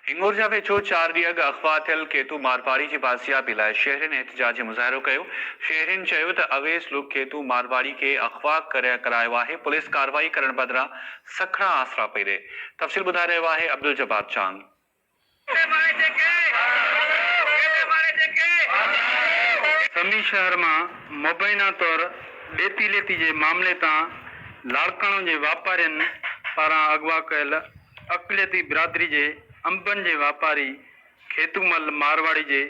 هنڱور جا ويجهو چار ڏينهن اڳ اغوا ٿيل کيتو مارواڙي جي بازيابي لاء شهرين احتجاجي مظاهرو ڪيو، شهرين چيو ته اويس لوڪ کيتو مارواڙي کي اغوا ڪري ڪرايو آهي، پوليس ڪارروائي ڪرڻ بدران سکڻا آسرا پئي ڏئي. تفصيل ٻڌائي رهيو آهي عبدالجبار چانگ. سمي شهر مان مبينا طور ڏيتي ليتي جي معاملي تان لاڙڪاڻو جي واپارين پاران اغوا ڪيل اقليتي برادري جي انبن جي واپاري کيتو مل مارواڙي جي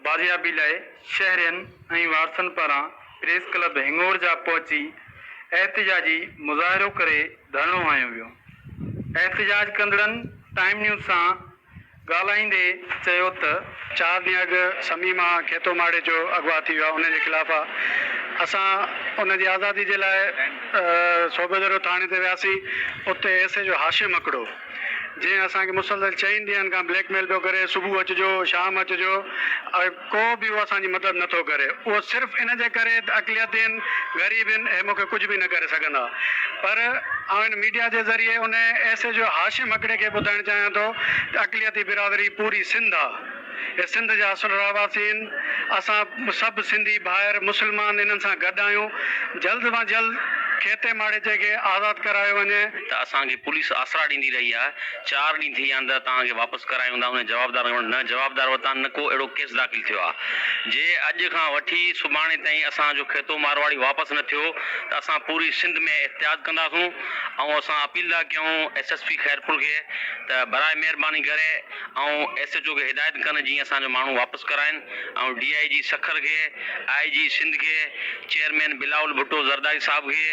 بازيابي لاء شهرين ۽ وارثن پاران پريس ڪلب هنڱور جا پهچي احتجاجي مظاهرو ڪري ڌرڻو هنيو ويو احتجاج ڪندڙن ٽائيم نيوز سان ڳالهائيندي چيو ته چار ڏينهن اڳ سمي مان کيتو ماڙي جو اغوا ٿي ويو آهي ان جي خلاف آ اسان ان جي آزادي جي لاء صوبه درو ٿاڻي تي وياسين اتي ايس ايچ او هاشم هڪڙو جنهن اسان کي مسلسل چئن ڏينهن کان بليڪ ميل پيو ڪري صبح اچجو شام اچجو ڪو به اهو اسان جي مدد نه ٿو ڪري. اهو صرف ان جي ڪري ته اقليتين، غريب هن، اهي مون کي ڪجهه به نه ڪري سگهندا. پر آئون هن ميڊيا جي ذريعي انهيء ايس ايچ او هاشم هڪڙي کي ٻڌائڻ چاهيان ٿو ته اقليتي برادري پوري سنڌ آ. هي سنڌ جا اصل رهواسي هن. اسان سڀ سنڌي ڀائر، مسلمان هنن سان گڏ آهيون. جلد مان جلد کيتي ماڙيچي کي آزاد ڪرايو وڃي. ته اسان کي پوليس آسرا ڏيندي رهي آهي. چار ڏينهن ٿي ويا آهن ته توهان کي واپس ڪرايون هوندا هن جوابدار وٽ نه جوابدار وتان نه ڪو اهڙو ڪيس داخل ٿيو آهي جي اڄ کان وٺي سڀاڻي تائين اسان جو کيتو مارواڙي واپس نه ٿيو ته اسان پوري سنڌ ۾ احتجاج ڪنداسون ۽ اسان اپيل ٿا ڪيون ايس ايس پي خيرپور کي ته براء مهرباني ڪري ۽ ايس ايچ او کي هدايت ڪن جيئن اسان جو ماڻهو واپس ڪرائين. آئون ڊي آء جي سکر کي، آء جي سنڌ کي، چيئرمين بلاول ڀٽو زرداري صاحب کي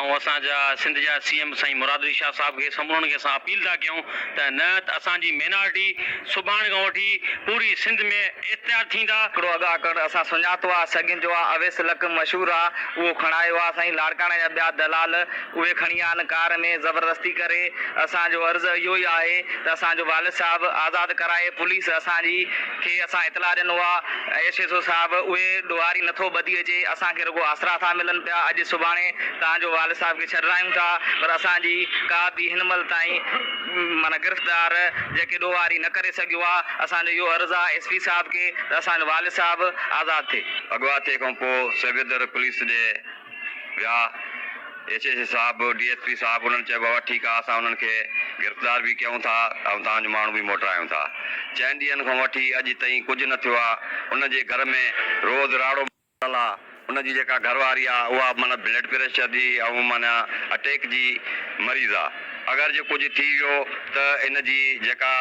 ۽ اسان جا سنڌ جا سي ايم سائين مراد علي شاهه صاحب کي سمورن کي اسان اپيل ٿا ڪيون ته نهت اسان جي مينارٽي سڀاڻي کان وٺي پوري سنڌ ۾ اختيار ٿيندا. هڪڙو اڳ آڪڙ اسان سڃاتو آ سڳين جو آ اويس لڪ مشهور آ اهو کڻايو آ سائين لاڙڪاڻي جا ٻيا دلال اهي کڻي آن ڪار ۾ زبردستي ڪري، اسان جو عرض اهو ئي آهي ته اسان جو والد صاحب آزاد ڪرائي پوليس اسان جي کي اسان اطلاع ڏنو آ ايس ايڇ او صاحب اهي ڏوهاري نٿو ٻڌي اچي اسان کي رڳو آسرا ٿا ملن پيا اڄ سڀاڻي توهان جو والد صاحب کي ڇڏرايون ٿا پر اسان جي ڪا به هن مهل تائين معنيٰ گرفتار جيڪي ڏوهاري نه ڪري سگهيو آ اسان جو اهو عرض آ ايس پي صاحب کي ته اسان جو والد صاحب آزاد ٿئي. اڳواٽ ٿئي کان پوء سگهه در پوليس ڏي ويا، ايڇ ايڇ صاحب، ڊي ايس پي صاحب انهن چيو بابا ٺيڪ آ اسان انهن کي گرفتار به ڪيون ٿا ۽ توهان جو ماڻهو به موٽرايون ٿا. چئن ڏينهن کان وٺي اڄ تئين ڪجهه نه ٿيو آ، ان جي گهر ۾ روز راڙو. ماڻل آ، ان جي جيڪا گهر واري آ اها معنيٰ بلڊ پريشر جي ۽ معنيٰ اٽيڪ جي مريض آ، اگر جي ڪجهه ٿي ويو ته ان جي جيڪا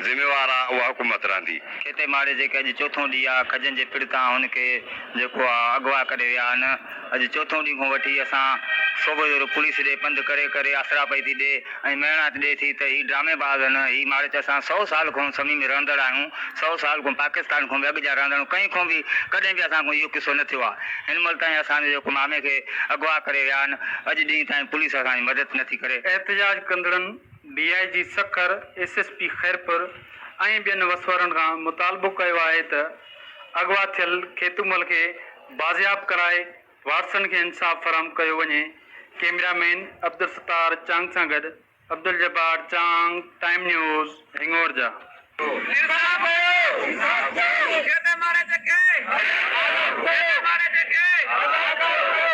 ذميوار آ اها حڪومت رهندي. کيتي ماڙي جيڪي اڄ چوٿون ڏينهن آ، کجن جي پڙ تان هن کي. جيڪو اغوا ڪري ويا آهن. اڄ چوٿون ڏينهن کان وٺي اسان صوبه جوڙو پوليس ڏي پنڌ ڪري ڪري آسرا پئي ٿي ڏي ۽ مهڻائت ڏي ٿي ته هي ڊرامي باز آهن هي مارچ اسان سؤ سال کان سمي ۾ رهندڙ آهيون سؤ سال کان پاڪستان کان به اڳ جا رهندڙ ڪنهن کان به ڪڏهن به اسان کان اهو قصو نه ٿيو آهي هن مهل تائين اسان جو جيڪو مامي کي اغوا ڪري ويا آهن اڄ ڏينهن تائين پوليس اسان جي مدد نه ٿي ڪري. احتجاج ڪندڙن D I G Sukkur, S S P Khairpur ۽ ٻين وسوارن کان مطالبو ڪيو آهي ته، اغوا ٿيل کيتومل کي بازياب ڪرائي وارثن کي انصاف فراهم ڪيو وڃي، ڪيميرا مين عبدالستار چانگ سان گڏ Abduljabbar Chang, time news, Hingorja. انصاف ڏيو انصاف ڏيو کيتي ماري جي کي آزاد ڪريو کيتي ماري جي کي آزاد ڪريو.